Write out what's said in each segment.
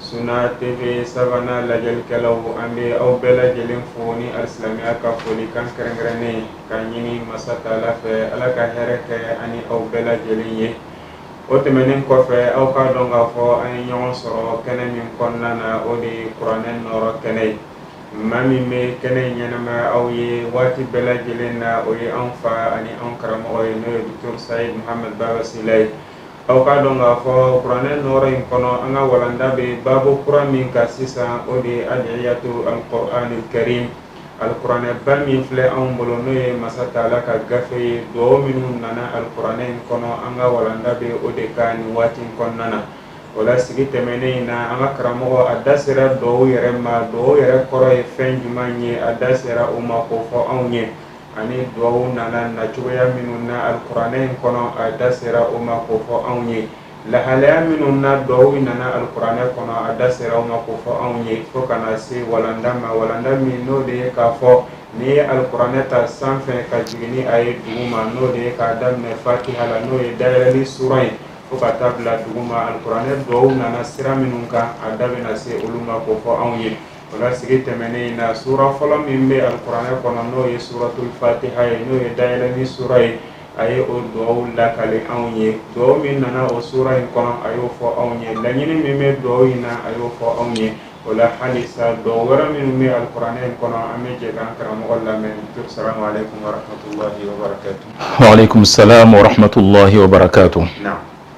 Suna TV Sabana lajɛlikɛlaw an bɛ aw bɛɛ lajɛlen fo ni alisilamɛya ka foli kan kɛrɛnkɛrɛnnen ka ɲini masa Taala fɛ Ala ka hɛrɛ kɛ an ni aw bɛɛ lajɛlen ye o tɛmɛnen kɔfɛ aw k'a dɔn k'a fɔ an ye ɲɔgɔn sɔrɔ kɛnɛ min kɔnɔna na o de ye kuranɛ nɔɔrɔ kɛnɛ ye maa min bɛ kɛnɛ in ɲɛnamaya aw ye waati bɛɛ lajɛlen na o ye anw fa ani anw karamɔgɔ ye n'o ye Docteur Sayid Mohamed Baba Sila ye Aw k'a dɔn k'a fɔ kuranɛ nɔrɔ in kɔnɔ an ka walanda bɛ baabu kura min kan sisan o de ye adiyatu alquraanil karim alkuranɛba min filɛ anw bolo n'o ye masa Taala ka gafe ye dugawu minnu nana alikuranɛ in kɔnɔ an ka walanda bɛ o de kan nin waati in kɔnɔna na o la sigi tɛmɛnen in na an ka karamɔgɔ a da sera dugawu yɛrɛ ma dugawu yɛrɛ kɔrɔ ye fɛn jumɛn ye a da sera o ma k'o fɔ anw ye ani dugaw nana na cogoya minnu na alikuranɛ in kɔnɔ a da sera o ma k'o fɔ anw ye lahalaya minnu na dugaw nana alikuranɛ kɔnɔ a da sera o ma k'o fɔ anw ye fo ka na se walanda ma walanda min n'o de ye k'a fɔ n'i ye alikuranɛ ta sanfɛ ka jigin ni a ye duguma n'o de ye k'a daminɛ fatiha la n'o ye dayɛlɛli sura ye fo ka taa bila duguma alikuranɛ dugaw nana sira minnu kan a da bɛna se olu ma k'o fɔ anw ye O la sigi tɛmɛnen in na sura fɔlɔ min bɛ alikuranɛ kɔnɔ n'o ye suratul fatiha ye n'o ye dayɛlɛli sura ye a ye o duwawu lakale anw ye duwawu min nana o sura in kɔnɔ a y'o fɔ anw ye laɲini min bɛ duwawu in na a y'o fɔ anw ye o la halisa duwawu wɛrɛ minnu bɛ alikuranɛ in kɔnɔ an bɛ jɛ k'an karamɔgɔ lamɛn docteur salamu aleykum warahmatulahi wabarakatu waaleykum salaam warahmatulahi wabarakatu naam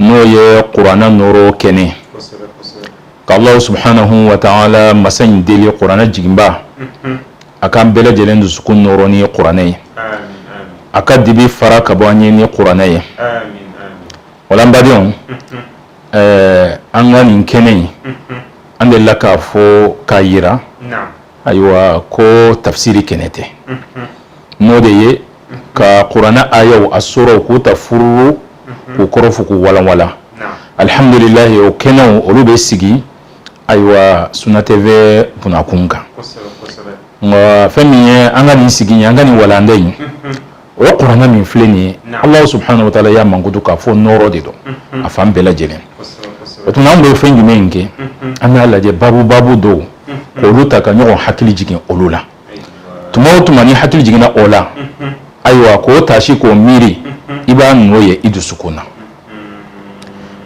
n'o ye kuranɛ nɔɔrɔ kɛnɛ ka Alahu subhanahu wa taala masa in deli kuranɛ jiginba a k'an bɛɛ lajɛlen dusukun nɔɔrɔ ni kuranɛ ye a ka dibi fara ka bɔ an ye ni kuranɛ ye o la n badenw ɛɛ an ka nin kɛnɛ in an delila k'a fɔ k'a jira ayiwa ko tafsiri kɛnɛ tɛ n'o de ye ka kuranɛ ayaw a suraw k'u ta fururu k'u kɔrɔ fɔ k'u walanwalan alihamdulilahi o kɛnɛw olu bɛ sigi ayiwa Suna TV bunakun kan nka fɛn min ye an ka nin sigi ye an ka nin walanda in o ye kuranɛ min filɛ nin ye Ala subhanahu wa taala y'a mankutu k'a fɔ nɔɔrɔ de don a fan bɛɛ lajɛlen o tuma an bɛ fɛn jumɛn kɛ an b'a lajɛ babu babu dɔw k'olu ta ka ɲɔgɔn hakili jigin olu la tuma o tuma ni hakili jiginna o la ayiwa k'o taasi k'o miiri i b'a nɔ ye i dusukun na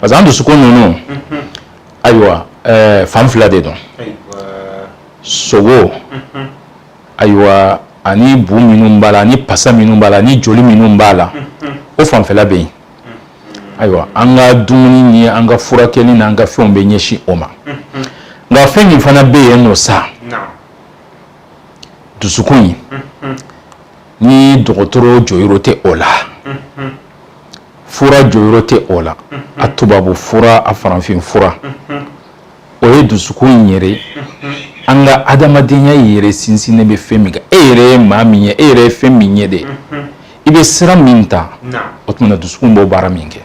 parce que an dusukun ninnu ayiwa eh, fan fila de don sogo ayiwa ani bu minnu b'a la ani pasa minnu b'a la ani joli minnu b'a la o fanfɛla bɛ yen ayiwa an ka dumuni ni an ka furakɛli n'an ka fɛnw bɛ ɲɛsin o ma nka fɛn min fana bɛ yen nɔ sa dusukun in ni dɔgɔtɔrɔ jɔyɔrɔ tɛ o la fura jɔyɔrɔ tɛ o la a tubabu fura a farafin fura o ye dusukun in yɛrɛ an ka adamadenya in yɛrɛ sinsinnen bɛ fɛn min kan e yɛrɛ ye maa min ye e yɛrɛ ye fɛn min ye de i bɛ sira min ta o tuma dusukun b'o baara min kɛ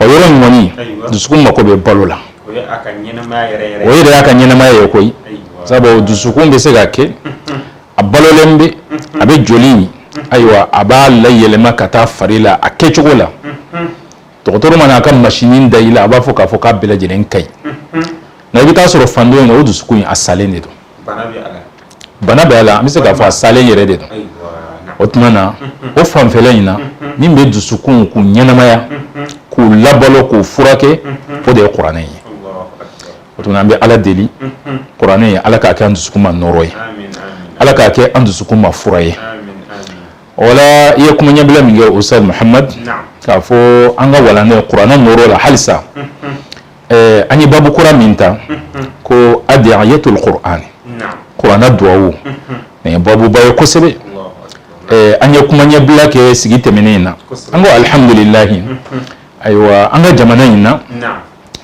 O yɔrɔ in kɔni dusukun mako bɛ balo la o yɛrɛ y'a ka ɲɛnamaya ye koyi sabu dusukun bɛ se ka kɛ a balolen bɛ a bɛ joli ayiwa a b'a layɛlɛma ka taa fari la a kɛcogo la dɔgɔtɔrɔ mana a ka machine da i la a b'a fɔ k'a fɔ k'a bɛɛ lajɛlen ka ɲi nka i bɛ taa sɔrɔ fan dɔ in na o dusukun in a salen de don bana bɛ a la an bɛ se k'a fɔ a salen yɛrɛ de don o tuma na o fanfɛla in na min bɛ dusukunw k'u ɲɛnamaya k'u labalo k'u furakɛ o de ye kuranɛ ye o tuma an bɛ Ala deli kuranɛ in Ala k'a kɛ an dusukun ma nɔɔrɔ ye Ala k'a kɛ an dusukun ma fura ye o la i ye kuma ɲɛbila min kɛ Ustaz Muhamad k'a fɔ an ka walanda in kuranɛ nɔɔrɔ la halisa. ɛɛ an ye babu kura min ta ko adiyatul Qur'an kuranɛ duwawu nin ye babuba ye kosɛbɛ ɛɛ an ye kuma ɲɛbila kɛ sigi tɛmɛnen in na an ko alihamdulilayi ayiwa an ka jamana in na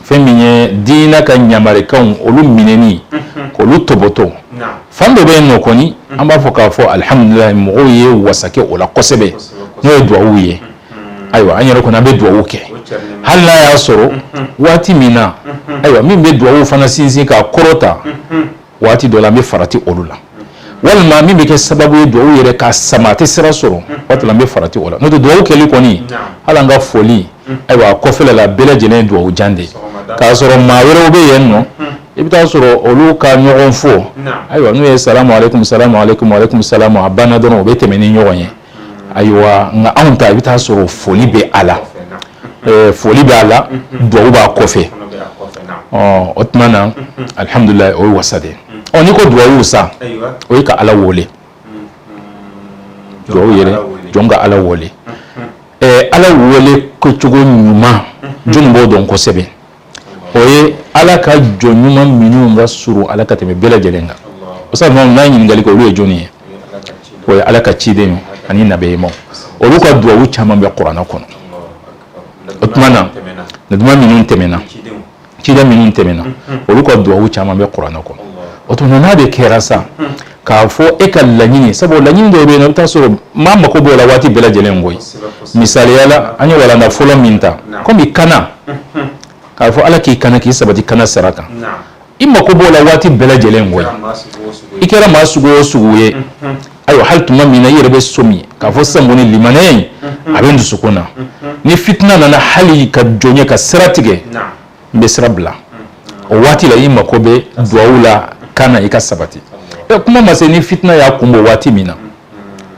fɛn min ye diinɛ ka ɲamarikanw olu minɛni k'olu tɔbɔtɔ fan dɔ bɛ yen nɔ kɔni an b'a fɔ k'a fɔ alihamdulilayi mɔgɔw ye wasakɛ o la kosɛbɛ n'o ye duwawu ye ayiwa an yɛrɛ kɔni an bɛ dugawu kɛ hali n'a y'a sɔrɔ waati min na ayiwa min bɛ dugawu fana sinsin k'a kɔrɔta waati dɔ la an bɛ farati olu la walima min bɛ kɛ sababu ye dugawu yɛrɛ ka sama a tɛ sira sɔrɔ waati la an bɛ farati o la n'o tɛ dugawu kɛli kɔni hali an ka foli ayiwa a kɔfɛla bɛɛ lajɛlen ye dugawu jan de ye k'a sɔrɔ maa wɛrɛw bɛ yen nɔ i bɛ taa sɔrɔ olu ka ɲɔgɔn fɔ ayiwa n'u ye salamu aleykum salamu aleykum aleykum salamu a banna dɔrɔn u bɛ tɛmɛ ni ɲɔgɔn ye ayiwa nka anw ta i bɛ taa sɔrɔ foli bɛ a la foli bɛ a la dugawu b'a kɔfɛ o tuma na alihamdulilayi o ye wasa de ye ɔ n'i ko dugawu sa o ye ka ala wele dugawu yɛrɛ jɔn ka ala wele ala wele kɛcogo ɲuman jɔn b'o dɔn kosɛbɛ o ye ala ka jɔn ɲuman minnu ka surun ala ka tɛmɛ bɛɛ lajɛlen kan o sa n'a ye ɲininkali kɛ olu ye jɔnni ye o ye ala ka ciden ye ani nabiɲumaw olu ka duwawu caman bɛ kuranɛ kɔnɔ o tuma na nabiɲuma minnu tɛmɛna ciden minnu tɛmɛna olu ka duwawu caman bɛ kuranɛ kɔnɔ o tuma n'a de kɛra sa k'a fɔ e ka laɲini sabu laɲini dɔw bɛ yen nɔ i bɛ taa sɔrɔ maa mako b'o la waati bɛɛ lajɛlen koyi misaliya la an ye walanda fɔlɔ min ta komi kanna k'a fɔ ala k'i kanna k'i sabati kanna sira kan i mako b'o la waati bɛɛ lajɛlen koyi i kɛra maa sugu o sugu ye ayiwa hali tuma min na i yɛrɛ bɛ sɔmi k'a fɔ sisan kɔni limanɛya in a bɛ n dusukun na ni fitina nana hali ka jɔn ye ka sira tigɛ n bɛ sira bila o waati la i mako bɛ duwawu la kanna i ka sabati ɛ kuma ma se ni fitina y'a kun bɔ waati min na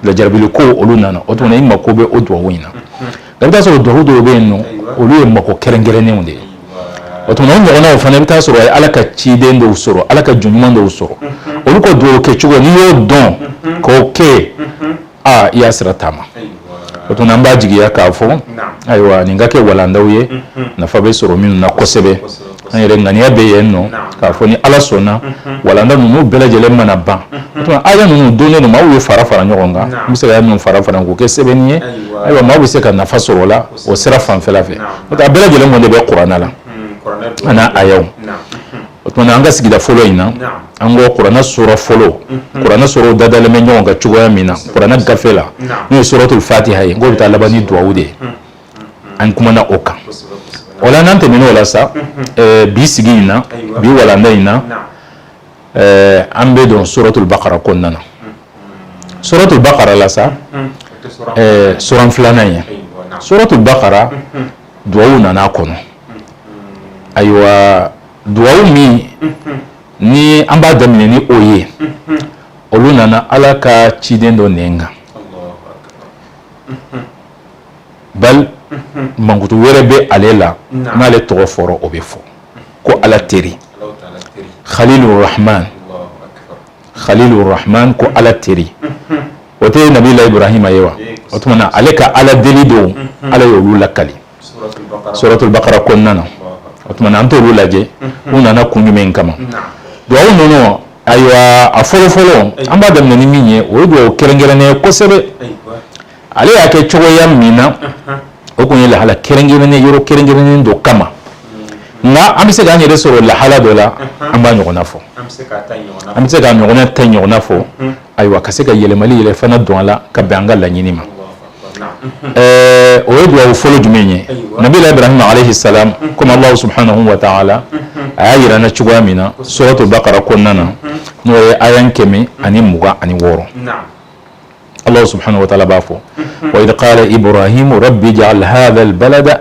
lajarabili ko olu nana o tuma i mako bɛ o duwawu in na nka i bɛ taa sɔrɔ duwawu dɔw bɛ yen nɔ olu ye mako kɛrɛnkɛrɛnnenw de ye o tuma o ɲɔgɔnnaw fana i bɛ taa sɔrɔ a ye ala ka ciden dɔw sɔrɔ ala ka jɔn ɲuman dɔw sɔrɔ olu ka duwawu kɛcogo n'i y'o dɔn k'o kɛ aa i y'a sira taama o tuma an b'a jigiya k'a fɔ ayiwa nin ka kɛ walandaw ye nafa bɛ sɔrɔ minnu na kosɛbɛ an yɛrɛ ŋaniya bɛ yen nɔ k'a fɔ ni ala sɔnna walanda ninnu bɛɛ lajɛlen mana ban o tuma aya ninnu don ninnu maaw ye fara fara ɲɔgɔn kan n bɛ se ka aya ninnu fara fara k'o kɛ sɛbɛnni ye ayiwa maaw bɛ se ka nafa sɔrɔ o la o sira fanfɛla fɛ a bɛɛ lajɛlen kɔni de bɛ kuranɛ la a n'a ayaw o tuma an ka sigida fɔlɔ in na an ko kuranɛ sura fɔlɔ mhm. kuranɛ suraw dadalen bɛ ɲɔgɔn kan cogoya min na kuranɛ gafe la n'o ye suratul fatiha ye k'o bɛ taa laban ni duwawu de ye mhm. Mhm. an kumana o kan o la n'an tɛmɛn'o la sa eh, bi sigi in na bi walanda in na eh, an bɛ don suratul bakara kɔnɔna na suratul bakara la sa eh, sura filanan ye suratul bakara duwawu nana a kɔnɔ ayiwa duwawu min ni an b'a daminɛ ni o ye olu nana ala ka ciden dɔ nɛn kan bal mankutu wɛrɛ bɛ ale la n'ale tɔgɔ fɔra o bɛ fɔ ko ala teri halilu rahman halilu rahman ko ala teri o tɛ nabila iburahima ye wa o tuma na ale ka ala deli dɔw ala ye olu lakali suratul bakara kɔnɔna na o tuma an t'olu lajɛ u nana kun jumɛn in kama duwawu ninnu ayiwa a fɔlɔfɔlɔ an b'a daminɛ ni min ye o ye duwawu kɛrɛnkɛrɛnnen ye kosɛbɛ ale y'a kɛ cogoya min na o tun ye lahala kɛrɛnkɛrɛnnen yɔrɔ kɛrɛnkɛrɛnnen dɔ kama nka an bɛ se k'an yɛrɛ sɔrɔ lahala dɔ la an b'a ɲɔgɔnna fɔ an bɛ se k'a ɲɔgɔnna ta ɲɔgɔnna fɔ ayiwa ka se ka yɛlɛmali yɛrɛ fana don a la ka bɛn an ka laɲini ma ɛɛ o ye dugawu fɔlɔ jumɛn ye nabilahi ibrahima alayhi salam comme allah subhanahu wa ta'ala a y'a yira an na cogoya min na suratul bakara kɔnɔna na n'o ye ayan kɛmɛ ani mugan ani wɔɔrɔ allah subhanahu wa ta'ala b'a fɔ wa idh qala ibrahimu rabbi ja'al hadha al balada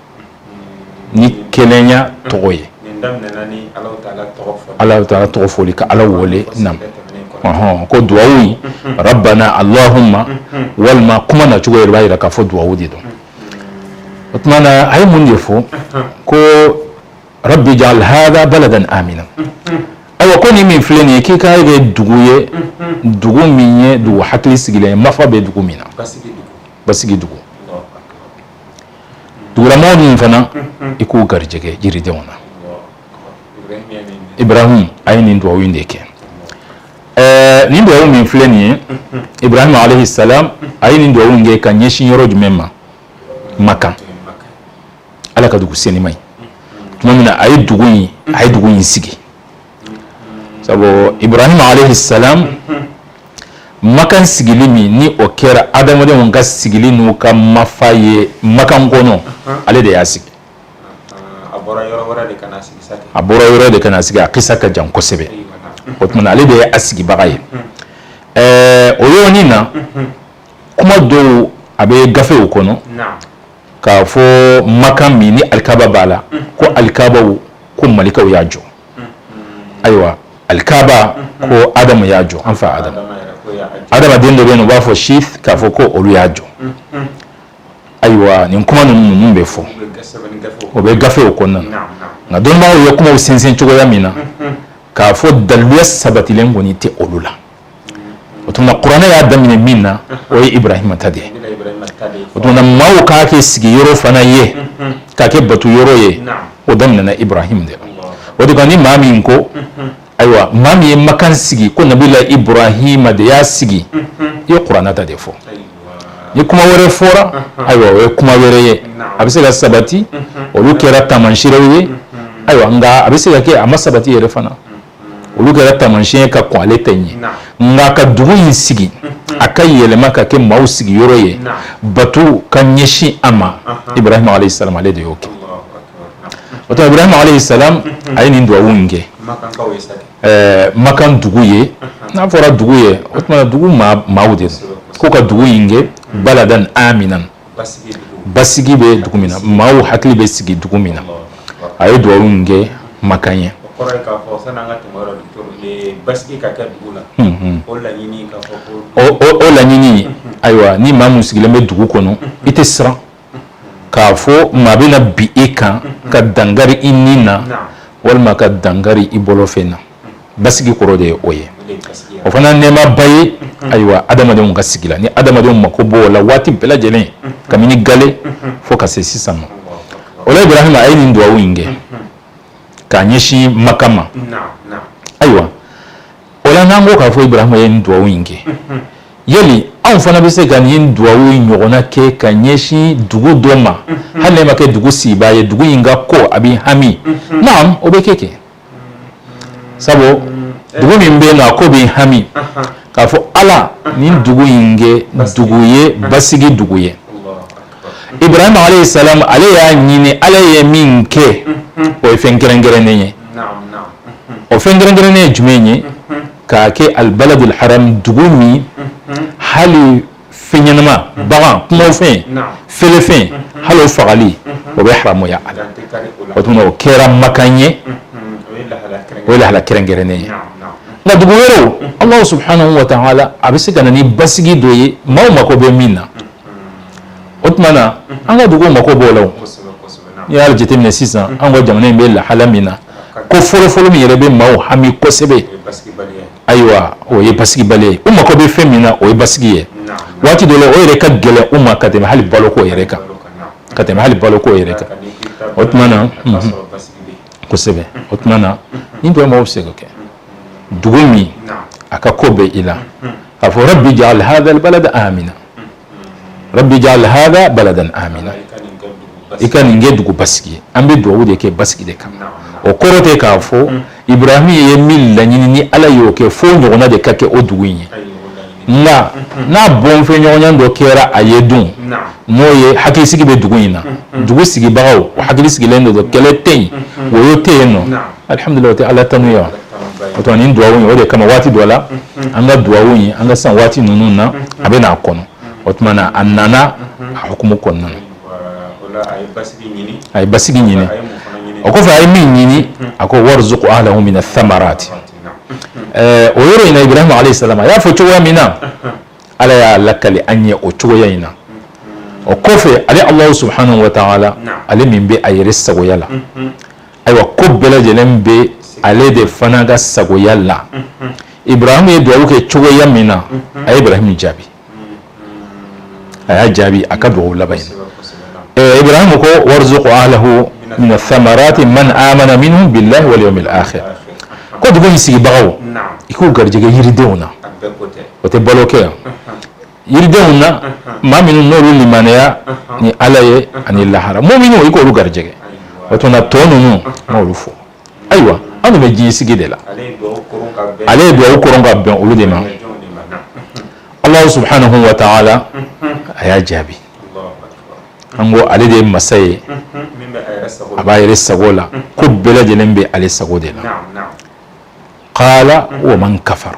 ni kelenya tɔgɔ ye allah ta'ala tɔgɔ fɔli ka ala wele naamu ko dugawu rabbana allahumma walima kuma na cogo yɛrɛ b'a yira k'a fɔ dugawu de don o tuma na a ye mun de fɔ ko rabbi ja'al hadha baladan amina ayiwa ko ni min filɛ nin ye k'i k'a kɛ dugu ye dugu min ye dugu hakili sigilen ye mafa bɛ dugu min na basigi dugu dugulamɔgɔ ninnu fana i k'u garijɛgɛ jiridenw na ibrahim a ye nin dugawu in de kɛ ɛɛ nin dugawu min filɛ nin ye ibrahim alayhi salam a ye nin dugawu in kɛ ka ɲɛsin yɔrɔ jumɛn ma makan ala ka dugu senima ye tuma min na a ye dugu in a ye dugu in sigi sabu ibrahim alayhi salam makan sigili min ni o kɛra adamadenw ka sigili n'u ka mafa ye makan kɔnɔ ale de y'a sigi a bɔra yɔrɔ de ka na sigi a kisa ka jan kosɛbɛ o tuma ale de ye a sigibaga ye ɛɛ o yɔrɔnin na kuma dɔw a bɛ gafew kɔnɔ k'a fɔ makan min ni alikaba b'a la ko alikabaw ko malikaw y'a jɔ ayiwa alikaba ko adamu y'a jɔ an fa adamu adamaden dɔ bɛ yen u b'a fɔ sith k'a fɔ ko olu y'a jɔ ayiwa nin kuma ninnu min bɛ fɔ o bɛ gafew kɔnɔna na nka dɔnnibaaw ye kumaw sɛnsɛn cogoya min na k'a fɔ daliluya sabatilen kɔni tɛ olu la o tuma kuranɛ y'a daminɛ min na o ye ibrahima ta de ye o tuma maaw k'a kɛ sigi yɔrɔ fana ye k'a kɛ bato yɔrɔ ye o daminɛna ibrahima de la o de kan ni maa min ko ayiwa maa min ye makan sigi ko nabila ibrahima de y'a sigi i ye kuranɛ ta de fɔ ni kuma wɛrɛ fɔra ayiwa o ye kuma wɛrɛ ye a bɛ se ka sabati olu kɛra taamasiyɛnw ye ayiwa nka a bɛ se ka kɛ a ma sabati yɛrɛ fana olu kɛra taamasiyɛn ka kɔn ale ta ɲɛ nka ka dugu in sigi a ka yɛlɛma ka kɛ maaw sigiyɔrɔ ye bato ka ɲɛsin a ma ibrahima alayhi salam ale de y'o kɛ o tuma ibrahima alayhi salam a ye nin dugawu in kɛ makan dugu ye n'a fɔra dugu ye o tuma dugu maaw de ko ka dugu in kɛ baladan aminan basigi bɛ dugu min na maaw hakili bɛ sigi dugu min na a ye dugawu in kɛ makan ye o laɲini ayiwa ni maa min sigilen bɛ dugu kɔnɔ i tɛ siran k'a fɔ maa bɛ na bin e kan ka dankari i ni na walima ka dankari i bolofɛn na basigi kɔrɔ de ye o ye o fana nɛɛmaba ye ayiwa adamadenw ka sigi la ni adamadenw mako b'o la waati bɛɛ lajɛlen kabini gale fo ka se sisan ma o la ibrahima a ye nin dugawu in kɛ k'a ɲɛsin maka ma ayiwa o la n'an ko k'a fɔ ibrahima ye nin dugawu in kɛ yali anw fana bɛ se ka nin dugawu in ɲɔgɔnna kɛ ka ɲɛsin dugu dɔ ma hali ne ma kɛ dugu sigibaa ye dugu in ka ko a bɛ hami naam o bɛ kɛ kɛ sabu dugu min bɛ yen nɔ a ko bɛ hami k'a fɔ ala nin dugu in kɛ dugu ye basigi dugu ye ibrahima alayhi salam ale y'a ɲini ala ye min kɛ o ye fɛn kɛrɛnkɛrɛnnen ye o fɛn kɛrɛnkɛrɛnnen ye jumɛn ye k'a kɛ albaladul haram dugu min hali fɛn ɲɛnama bagan kumafɛn fɛn o fɛn hali o fagali o bɛ haramuya a la o tuma o kɛra makan ye o ye lahala kɛrɛnkɛrɛnnen ye nka dugu wɛrɛw Alahu subahanahu wa taala a bɛ se ka na ni basigi dɔ ye maaw mako bɛ min na o tuma na an ka duguw mako b'o la o n'i y'a jateminɛ sisan an ka jamana in bɛ lahala min na ko fɔlɔfɔlɔ min yɛrɛ bɛ maaw hami kosɛbɛ ayiwa o ye basigibaliya ye u mako bɛ fɛn min na o ye basigi ye waati dɔ la o yɛrɛ ka gɛlɛn u ma ka tɛmɛ hali baloko yɛrɛ kan ka tɛmɛ hali baloko yɛrɛ kan o tuma na kosɛbɛ o tuma na nin dugawu bɛ se ka kɛ dugu min a ka ko bɛ i la a fɔ rabbi ja'al hada albalada amina ja'al hada baladan amina i ka nin kɛ dugu basigi ye an bɛ dugawu de kɛ basigi de kan o kɔrɔ tɛ k'a fɔ ibrahim ye min laɲini ni ala y'o kɛ fo ɲɔgɔnna de ka kɛ o dugu in ye nka n'a bɔnfɛn ɲɔgɔn dɔ kɛra a ye dun n'o ye hakilisigi bɛ dugu in na dugu sigibagaw hakili sigilen don kɛlɛ tɛ yen woyo tɛ yen nɔ alihamudulila tɛ ala tanu yan o tuma nin duwawu in o de kama waati dɔ la an ka duwawu in an ka san waati ninnu na a bɛ n'a kɔnɔ o tuma na a nana a hukumu kɔnɔna na a ye basigi ɲini o kɔfɛ a ye min ɲini a ko warizuku ahlahu mina thamarati ɛɛ o yɔrɔ in na ibrahima alayhi salam a y'a fɔ cogoya min na ala y'a lakali an ye o cogoya in na o kɔfɛ ale alahu subhanahu wa ta'ala ale min bɛ a yɛrɛ sagoya la ayiwa ko bɛɛ lajɛlen bɛ ale de fana ka sagoya la ibrahima ye dugawu kɛ cogoya min na a ye ibrahima jaabi a y'a jaabi a ka dugawu laban in na ibrahima ko warzuku ahlahu mina samarati man amana minhum billahi wal yawmil akhir ko dugu in sigibagaw i k'u garijɛgɛ yiridenw na o tɛ balo kɛ yan yiridenw na maa minnu n'olu limaneya ni ala ye ani lahara muminuw i k'olu garijɛgɛ o tuma na tɔ ninnu a m'olu fɔ ayiwa an bɛ ji sigi de la ale ye dugawu koron ka bɛn olu de ma alahu subhanahu wa ta'ala a y'a jaabi an ko ale de ye masa ye a b'a yɛrɛ sago la ko bɛɛ lajɛlen bɛ ale sago de la kala wa man kafara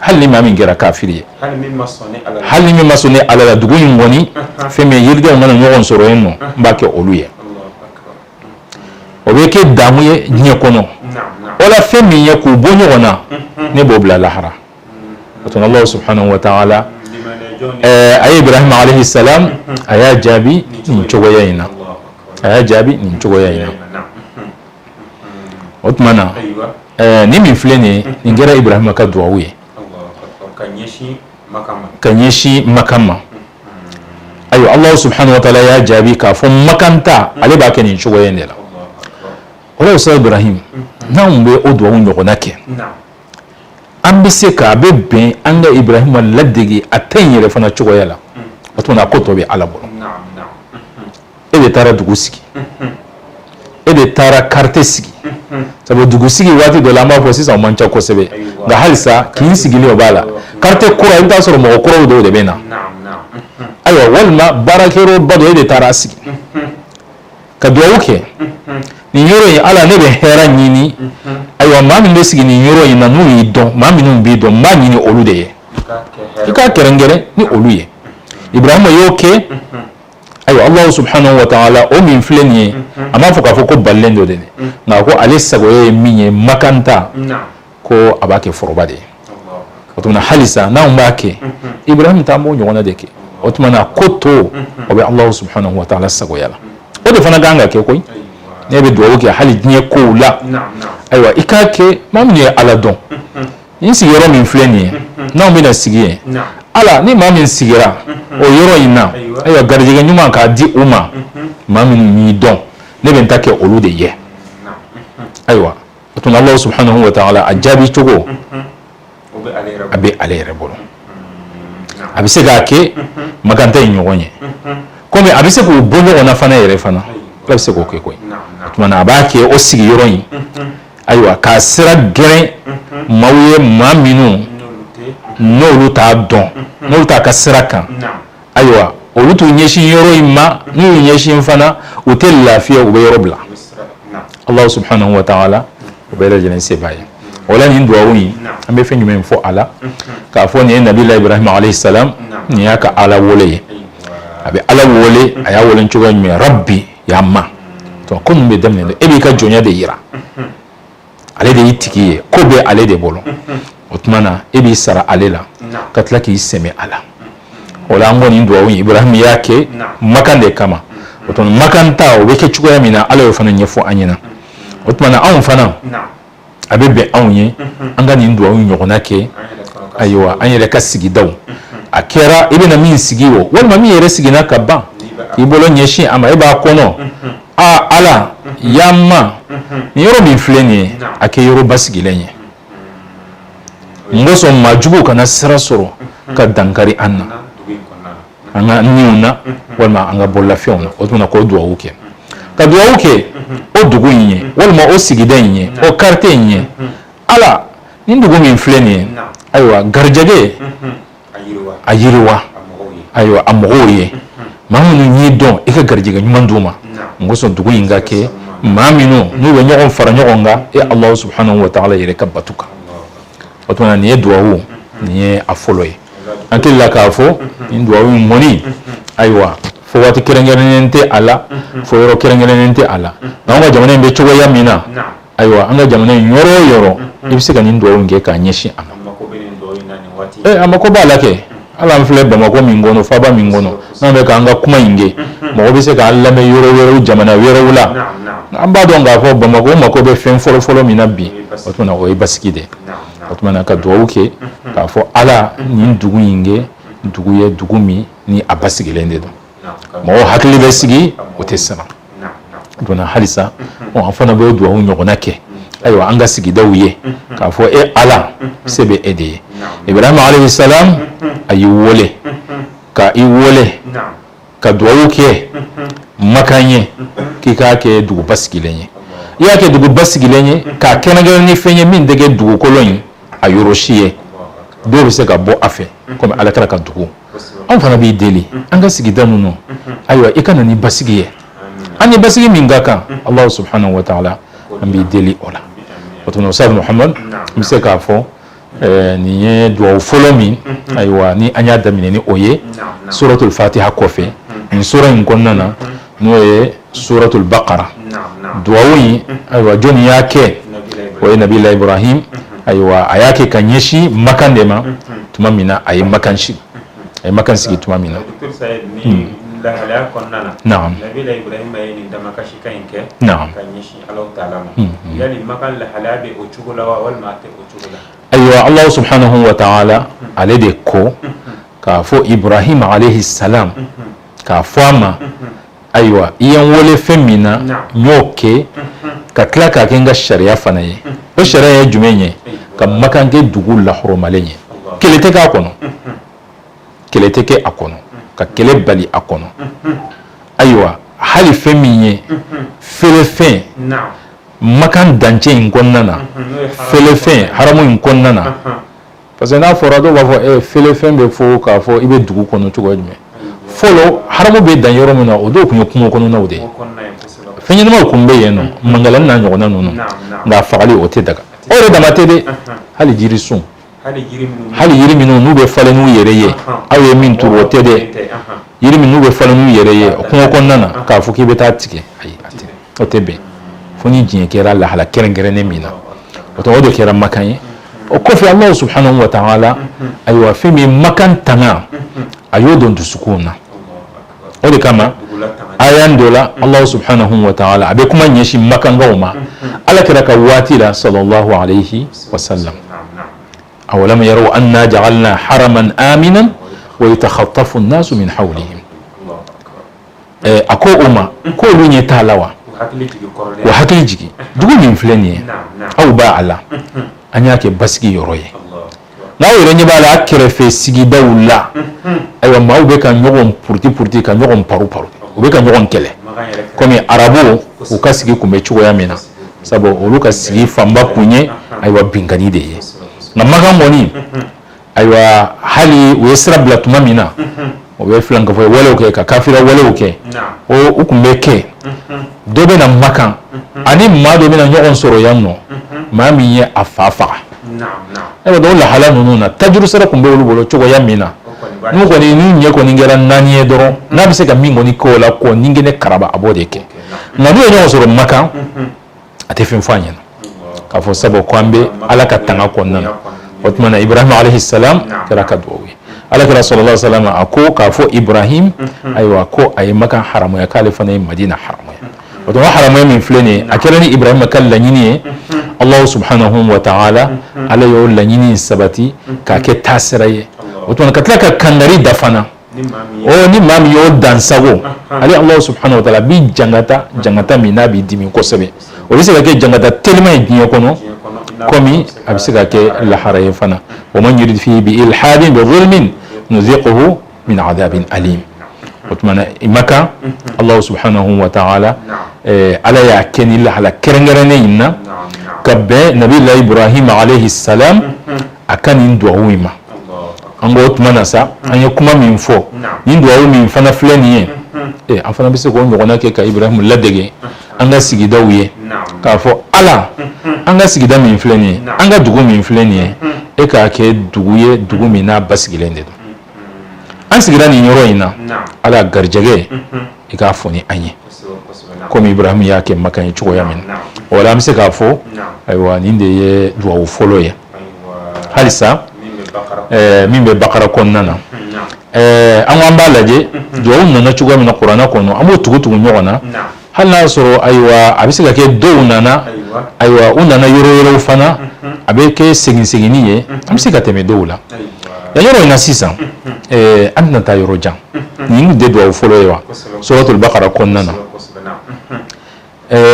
hali ni maa min kɛra kafiri ye hali min ma sɔn ni ala la dugu in kɔni fɛn min yiridenw ka na ɲɔgɔn sɔrɔ yen nɔ n b'a kɛ olu ye o bɛ kɛ daamu ye diɲɛ kɔnɔ wala fɛn min ye k'u bɔ ɲɔgɔn na ne b'o bila lahara o tuma Alahu subahanahu wa taala a ye Ibrahima alehi salam a y'a jaabi nin cogoya in na a y'a jaabi nin cogoya in na. o tuma na nin min filɛ nin nin kɛra ibrahima ka dugawu ye ka ɲɛsin makan ma ayiwa alahu subhanahu wa taala y'a jaabi k'a fɔ makan ta ale b'a kɛ nin cogo in de la o la sa ibrahim n'an bɛ o dugawu ɲɔgɔnna kɛ an bɛ se k'a bɛ bɛn an ka ibrahima ladege a ta in yɛrɛ fana cogoya la o tuma na a ko tɔ bɛ ala bolo e de taara dugu sigi e de taara karite sigi sabu dugu sigi waati dɔ la an b'a fɔ sisan o man ca kosɛbɛ nka halisa kin sigili o b'a la karite kura i bɛ t'a sɔrɔ mɔgɔ kuraw dɔw de bɛ na ayiwa walima baarakɛyɔrɔ ba dɔ e de taara sigi ka dugawu kɛ nin yɔrɔ in ala ne bɛ hɛrɛ ɲini ayiwa maa minnu bɛ sigi nin yɔrɔ in na n'u y'i dɔn maa minnu b'i dɔn n b'a ɲini olu de ye i k'a kɛrɛnkɛrɛn ni olu ye ibrahima y'o kɛ ayiwa alahu subhanahu wa taala o min filɛ nin ye a m'a fɔ k'a fɔ ko balilen don dɛ nka ko ale sagoya ye min ye makan ta ko a b'a kɛ foroba de ye o tuma na halisa n'anw b'a kɛ ibrahim ta an b'o ɲɔgɔnna de kɛ o tuma na ko tɔ o bɛ alahu subhanahu wa taala sagoya la o de fana kan ka kɛ koyi ne bɛ dugawu kɛ hali diɲɛ kow la ayiwa i k'a kɛ maa minnu ye ala dɔn n sigiyɔrɔ min filɛ nin ye n'anw bɛna sigi yen ala ni maa min sigira o yɔrɔ in na ayiwa garijɛgɛ ɲuman k'a di u ma maa minnu n'i dɔn ne bɛ n ta kɛ olu de ye ayiwa o tuma ala subahanahu wa taala a jaabi cogo a bɛ ale yɛrɛ bolo a bɛ se k'a kɛ makan ta ɲɔgɔn ye kɔmi a bɛ se k'o bɔ ɲɔgɔn na fana yɛrɛ fana ala bɛ se k'o kɛ koyi o tuma a b'a kɛ o sigiyɔrɔ in Ayiwa k'a sira geren maaw ye maa minnu n'olu t'a dɔn n'olu t'a ka sira kan ayiwa olu t'u ɲɛsin yɔrɔ in ma n'u y'u ɲɛsin fana u tɛ lafiya u bɛ yɔrɔ bila ala subahanahu wa taala o bɛɛ lajɛlen se b'a ye o la nin dugawu ye an bɛ fɛn jumɛn fɔ a la k'a fɔ nin ye nabilahi ibrahima alayhi salam nin y'a ka ala wele ye a bɛ ala wele a y'a wele cogoya min ya ma o tuma ko ninnu bɛ daminɛ e b'i ka jɔnya de jira ale de y'i tigi ye ko bɛ ale de bolo o tuma na e b'i sara ale la ka tila k'i sɛmɛ a la o la an ko nin dugawu in ibrahima y'a kɛ makan de kama o makan ta o bɛ kɛ cogoya min na ala y'o fana ɲɛfɔ an ɲɛna o tuma anw fana a bɛ bɛn anw ye an ka nin dugawu in ɲɔgɔnna kɛ ayiwa an yɛrɛ ka sigidaw a kɛra i bɛna min sigi wo walima min yɛrɛ sigira ka ban i bolo ɲɛsin a ma e b'a kɔnɔ aa ala ya ma nin yɔrɔ min filɛ nin ye a kɛ yɔrɔ basigilen ye n kosɔn maajuguw kana sira sɔrɔ ka dankari an na an ka niw na walima an ka bololafɛnw na o tuma k'o dugawu kɛ ka dugawu kɛ o dugu in ye walima o sigida in ye o karite in ye ala nin dugu min filɛ nin ye ayiwa garijɛgɛ a yiriwa ayiwa a mɔgɔw ye maa minnu y'i dɔn i ka garijɛgɛ ɲuman d'u ma n kosɔn dugu in ka kɛ maa minnu n'u bɛ ɲɔgɔn fara ɲɔgɔn kan e ala subahanahu wa taala yɛrɛ ka batu kan o tuma nin ye dugawu nin ye a fɔlɔ ye an hakili la k'a fɔ nin dugawu in mɔni ayiwa fɔ waati kɛrɛnkɛrɛnnen tɛ a la fɔ yɔrɔ kɛrɛnkɛrɛnnen tɛ a la nka an ka jamana in bɛ cogoya min na ayiwa an ka jamana in yɔrɔ o yɔrɔ i bɛ se ka nin dugawu in kɛ k'a ɲɛsin a ma ee a mako b'a la kɛ hali an filɛ bamakɔ min kɔnɔ faaba min kɔnɔ n'an bɛ k'an ka kuma in kɛ mɔgɔ bɛ se k'an lamɛn yɔrɔ wɛrɛw jamana wɛrɛw la an b'a dɔn k'a fɔ bamakɔ mako bɛ fɛn fɔlɔ fɔlɔ min na bi o tuma o ye basigi de ye o tuma na ka dugawu kɛ k'a fɔ ala nin dugu in kɛ dugu ye dugu min ni a basigilen de don mɔgɔ hakili bɛ sigi u tɛ siran o tuma na halisa an fana b'o dugawu ɲɔgɔnna kɛ ayiwa an ka sigidaw ye k'a fɔ e ala se bɛ e de ye ibrahima alayhi salam a y'i wele ka i wele ka dugawu kɛ makan ye k'i k'a kɛ dugu basigilen ye i y'a kɛ dugu basigilen ye k'a kɛrɛnkɛrɛn ni fɛn ye min tɛ kɛ dugukolo in a yɔrɔ si ye dɔw bɛ se ka bɔ a fɛ kɔmi ala kira ka dugu an fana b'i deli an ka sigida ninnu ayiwa i ka na ni basigi ye ani basigi min ka kan ala subhanahu wa ta'ala an b'i deli o la ustaz muhamad n bɛ se k'a fɔ nin ye dugawu fɔlɔ min ayiwa ni an y'a daminɛ ni o ye suratul fatiha kɔfɛ nin sura in kɔnɔna na n'o ye suratul bakara dugawu in ayiwa jɔnni y'a kɛ o ye nabilahi iburahima ayiwa a y'a kɛ ka ɲɛsin makan de ma tuma min na a ye makan sigi a ye makan sigi tuma min na ayiwa ala subhanahu wa ta'ala ale de ko k'a fɔ iburahima alehi salam k'a fɔ a ma ayiwa i ye n wele fɛn min na n y'o kɛ ka tila k'a kɛ n ka sariya fana ye o sariya ye jumɛn ye ka makan kɛ dugu lahɔrɔmalen ye kɛlɛ tɛ k'a kɔnɔ kɛlɛ tɛ kɛ a kɔnɔ ka kɛlɛ bali a kɔnɔ ayiwa hali fɛn min ye felefɛn makan dancɛ in kɔnɔna na fɛn haramu in kɔnɔna na parce que n'a fɔra dɔw b'a fɔ felefɛn bɛ fɔ k'a fɔ i bɛ dugu kɔnɔ cogo jumɛn fɔlɔ haramu bɛ dan yɔrɔ min na o dɔw tun ye kungo kɔnɔnaw de ye fɛn ɲɛnamaw tun bɛ yen nɔ mankalan n'a ɲɔgɔnna ninnu nka fagali o tɛ daga o yɛrɛ dama tɛ dɛ hali jirisun hali yiri minnu n'u bɛ falen n'u yɛrɛ ye aw ye min turu o tɛ dɛ yiri minnu bɛ falen n'u yɛrɛ ye kungo kɔnɔna na k'a fɔ k'i bɛ taa a tigɛ ayi a tɛ o tɛ bɛn fo ni diɲɛ kɛra lahala kɛrɛnkɛrɛnnen min na o tɔgɔ de kɛra makan ye o kɔfɛ ala subhanahu wa ta'ala ayiwa fɛn min makan tanga a y'o don dusukun na o de kama a y'an dɔ la ala subhanahu wa ta'ala a bɛ kuma ɲɛsin makankaw ma ala kira ka waati la salalahu aleyi wasalam awalam yaraw anna ja'alna haraman aminan wa yutakhatafu nnasu min hawlihim a ko u ma ko olu ɲɛ t'a la wa wa hakili jigin dugu min filɛ nin ye aw b'a a la an y'a kɛ basigi yɔrɔ ye n'aw yɛrɛ ɲɛ b'a la a kɛrɛfɛ sigidaw la ayiwa maaw bɛ ka ɲɔgɔn puruti puruti ka ɲɔgɔn paro paro u bɛ ka ɲɔgɔn kɛlɛ kɔmi arabuw ka sigi tun bɛ cogoya min na sabu olu ka sigi fanba kun ye ayiwa binkani de ye nka makan kɔni ayiwa hali u ye sira bila tuma min na o bɛ filankafo walew kɛ ka kafiriya walew kɛ u tun bɛ kɛ dɔ bɛ na makan ani maa dɔ bɛna ɲɔgɔn sɔrɔ yan n'o maa min ye a fa faga ayiwa dɔ lahala ninnu na tajuru sara tun bɛ olu bolo cogoya min na n'u kɔni ni ɲɛ kɔni kɛra naani ye dɔrɔn n'a bɛ se ka min kɔni k'o la k'o ni kɛnɛ karaba a b'o de kɛ nka n'u ye ɲɔgɔn sɔrɔ makan a tɛ fɛn fɔ a ɲɛna k'a fɔ sabu ko an bɛ ala ka tanga kɔnɔna na o tuma na ibrahim alayhi salam kɛra a ka dugawu ye ala kira sallallahu alayhi wa salam a ko k'a fɔ ibrahim ayiwa ko a ye makan haramuya k'ale fana ye madina haramuya o tuma haramuya min filɛ nin ye a kɛra ni ibrahim ka laɲini ye allahu subhanahu wa ta'ala ala y'o laɲini sabati k'a kɛ taasira ye o tuma ka tila ka kangari da fana o ni maa min y'o dansago, anhan, ale Alahu subahana watala a b'i jankata min n'a b'i dimi kosɛbɛ o bɛ se ka kɛ jankata telima ye diɲɛ kɔnɔ, komi a bɛ se ka kɛ lahara ye fana wa man yurid fihi bi ilhadin bi zulmin nuziquhu min adabin alim o tuma na makan Alahu subahana watala eh, ala y'a kɛ ni lahala kɛrɛnkɛrɛnnen in na ka bɛn nabiyullah ibrahim alayhi salam a ka nin dugawu in ma an ko o tuma na sa an ye kuma min fɔ ni dugawu min fana filɛ nin ye eh, an fana bɛ se k'o ɲɔgɔnna kɛ ka ibrahimu ladege an ka sigidaw ye k'a fɔ ala an ka sigida min filɛ nin ye an ka dugu min filɛ nin ye e k'a kɛ dugu ye dugu min n'a basigilen de don an sigira nin yɔrɔ in na ala garijɛgɛ i k'a foni an ye komi ibrahim y'a kɛ makan ye cogoya min na o an bɛ se k'a fɔ ayiwa nin de ye dugawu fɔlɔ ye halisa min bɛ bakara kɔnɔna na an ko an b'a lajɛ dugawu nana cogoya min na kuranɛ kɔnɔ an b'o tugu tugu ɲɔgɔn na hali n'a y'a sɔrɔ ayiwa a bɛ se ka kɛ dɔw nana ayiwa u nana yɔrɔ yɔrɔw fana a bɛ kɛ segin seginni ye an bɛ se ka tɛmɛ dɔw la yan yɔrɔ in na sisan an tɛna taa yɔrɔ jan nin tɛ dugawu fɔlɔ ye wa suratul bakara kɔnɔna na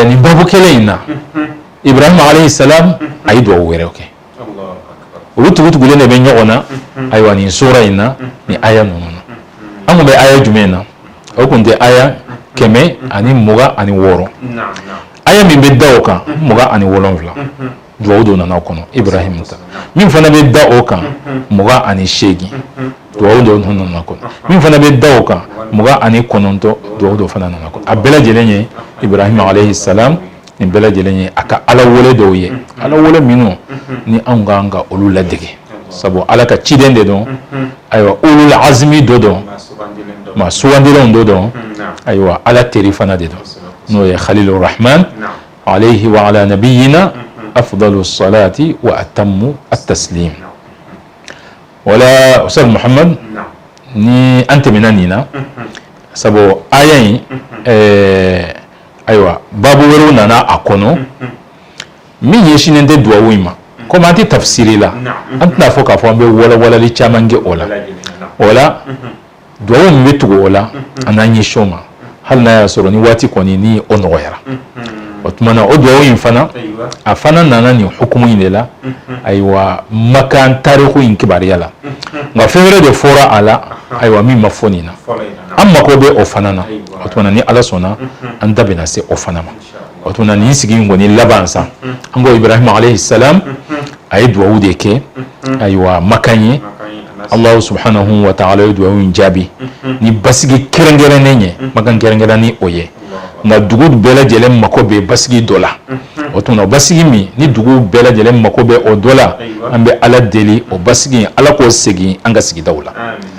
nin babu kelen in na ibrahima alayhi salam a ye dugawu wɛrɛw kɛ olu tugu tugulen de bɛ ɲɔgɔn na ayiwa nin sura in na nin aya ninnu na an tun bɛ aya jumɛn na o tun tɛ aya kɛmɛ ani mugan ani wɔɔrɔ aya min bɛ da o kan mugan ani wolonfila dugawu dɔ nana o kɔnɔ ibrahim ta min fana bɛ da o kan mugan ani seegin dugawu dɔ nana o kɔnɔ min fana bɛ da o kan mugan ani kɔnɔntɔn dugawu dɔ fana nana o kɔnɔ a bɛɛ lajɛlen ye ibrahim alayhi salam nin bɛɛ lajɛlen ye a ka ala wele dɔw ye ala wele minnu ni anw ka kan ka olu ladege sabu ala ka ciden de don ayiwa ulul azmi dɔ don maa sugandilenw dɔ don ayiwa ala teri fana de don n'o ye khalilur rahman Alayhi wa ala nabiyyina afdalu salati wa atammu at taslim. Wala Ustaz Muhammad ni an tɛmɛna nin na sabu aya in ayiwa babu wɛrɛw nana a kɔnɔ min ɲɛsinnen tɛ duwawu in ma komi an tɛ tafsiri la an tɛna a fɔ k'a fɔ an bɛ walawalali caman kɛ o la dugawu min bɛ tugu o la an n'an ɲɛsin o ma hali n'a y'a sɔrɔ ni waati kɔni ni o nɔgɔyara o tuma na o dugawu in fana a fana nana nin hukumu in de la ayiwa makan tariku in kibaruya la nka fɛn wɛrɛ de fɔra a la ayiwa min ma fɔ nin na an mako bɛ o fana na o tuma na ni ala sɔnna an da bɛna se o fana ma o tuma na nin sigi in kɔni laban sa an ko ibrahim alayhi salam a ye dugawu de kɛ ayiwa makan ye allahu subhanahu wa taala ye dugawu in jaabi ni basigi kɛrɛnkɛrɛnnen ye makan kɛrɛnkɛrɛn ni o ye nka dugu bɛɛ lajɛlen mako bɛ basigi dɔ la o tuma na basigi min ni dugu bɛɛ lajɛlen mako bɛ o dɔ la an bɛ ala deli o basigi ala k'o segin an ka sigidaw la